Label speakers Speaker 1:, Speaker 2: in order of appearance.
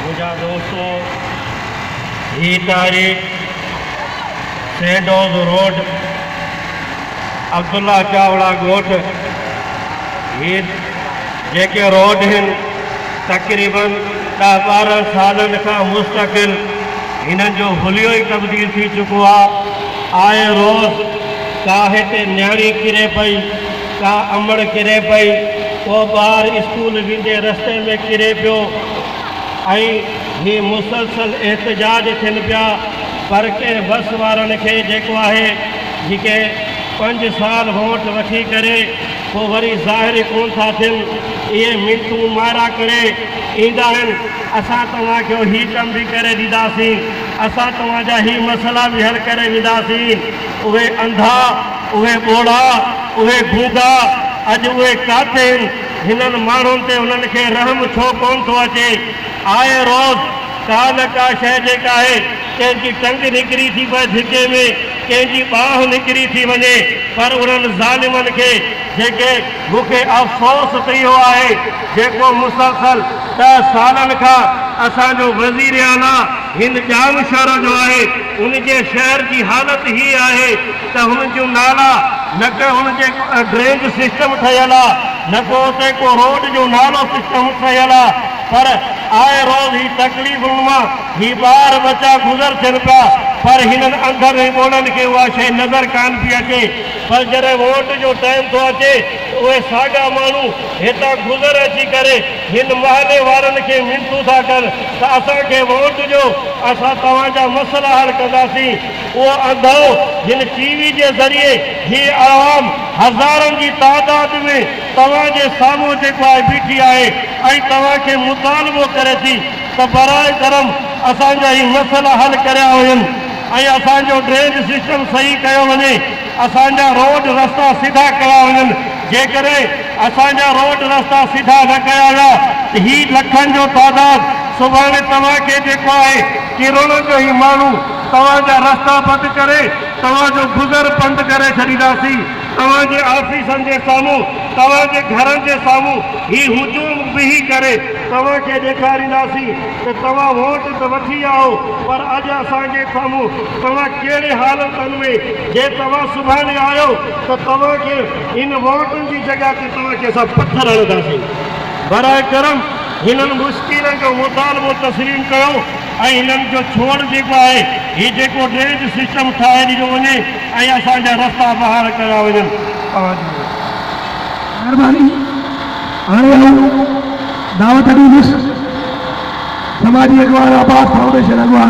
Speaker 1: منهنجا دوستو هي تاريخ سينڊوز روڊ عبدالله چاوڙا ڳوٺ هي جيڪي روڊ هن تقريباً ڏهه ٻارهن سالن کان مستقل هنن جو حليو ئي تبديل ٿي چڪو آ آئي روز ڪا هتي نيڻي ڪري پئي ڪا امڙ ڪري پئي، ڪو ٻار اسڪول ويندي رستي ۾ ڪري پيو ۽ هي مسلسل احتجاج ٿين پيا پر ڪنهن بس وارن کي جيڪو آهي جيڪي پنج سال ووٽ وٺي ڪري پو وري ظاهر ئي ڪون ٿا ٿين اهي منٽون مارا ڪري ايندا آهن اسان توهان کي هي ڪم به ڪري ڏيداسين اسان توهان جا هي مسئلا به حل ڪري وينداسين اهي انڌا اهي ٻوڙا، اهي گونگا، اڄ اهي ڪاٿي هن؟ هنن ماڻهن تي انهن کي رحم ڇو ڪونه ٿو اچي؟ آء روز ڪا نه ڪا شيء جيڪا آهي، ڪنهن جي ٽنگ نڪري ٿي پئي ڌڪي ۾، ڪنهن جي ٻانهن نڪري ٿي وڃي، پر انهن ظالمن کي جيڪي. مون کي افسوس ته اهو آهي، جيڪو مسلسل ڏهه سالن کان اسان جو وزيراعليٰ هن ڄام شهر جو آهي، ان جي شهر جي حالت هيء آهي، ته هن جون نالا نه ڪه هن جي ڊرينج سسٽم ٺهيل آ نه ڪو اتي ڪو روڊ جو نالو سسٽم ٺهيل آ پر آء روز هي تڪليفن مان هي ٻار ٻچا گذر ٿين پيا پر هنن انڌن ۽ ٻولن کي اها شئي نظر ڪان پي اچي. پر جڏهن ووٽ جو ٽائيم ٿو اچي ته اهي ساڳا ماڻهو هتان گذر اچي ڪري هن محلي وارن کي منٿون ٿا ڪن ته اسان کي ووٽ ڏيو اسان توهان جا مسئلا حل ڪنداسين. اهو انڌو جن ٽي وي جي ذريعي هي عوام هزارن جي تعداد ۾ توهان جي سامهون جيڪو آهي بيٺي آهي ۽ توهان کي مطالبو ڪري ٿي ته براهه ڪرم اسان جا هي مسئلا حل ڪريا وڃن ۽ اسان جو ڊرينج سسٽم صحيح ڪيو وڃي اسان جا روڊ رستا سڌا ڪيا وڃن جيڪڏهن اسان جا روڊ رستا سڌا نه ڪيا ويا ته هي لکن جو تعداد سڀاڻي توهان کي جيڪو آهي ڪرڙن جو هي ماڻهو توهان جا رستا بند ڪري توهان جو گذر بند ڪري ڇڏينداسين، توهان جي آفيسن جي سامهون، توهان جي گهرن جي سامهون هي هجوم بيهي ڪري توهان کي ڏيکارينداسين ته توهان ووٽ ته وٺي آئو پر اڄ اسان جي سامهون توهان ڪهڙي حالتن ۾ جي توهان سڀاڻي آيو ته توهان کي هن ووٽن جي جڳهه تي توهان کي اسان پٿر هڻنداسين. براء ڪرم هنن مشڪلن جو مطالبو تسليم ڪيو. ۽ انهن جو ڇوڙ جيڪو آهي هي جيڪو ڊرينيج سسٽم ٺاهي ڏنو وڃي ۽ اسان جا رستا بحال ڪيا وڃن اوهانجي
Speaker 2: مهرباني هاڻي آئون دعوت ڏيندس سماجي اڳواڻ عباس فائونڊيشن اڳواڻ.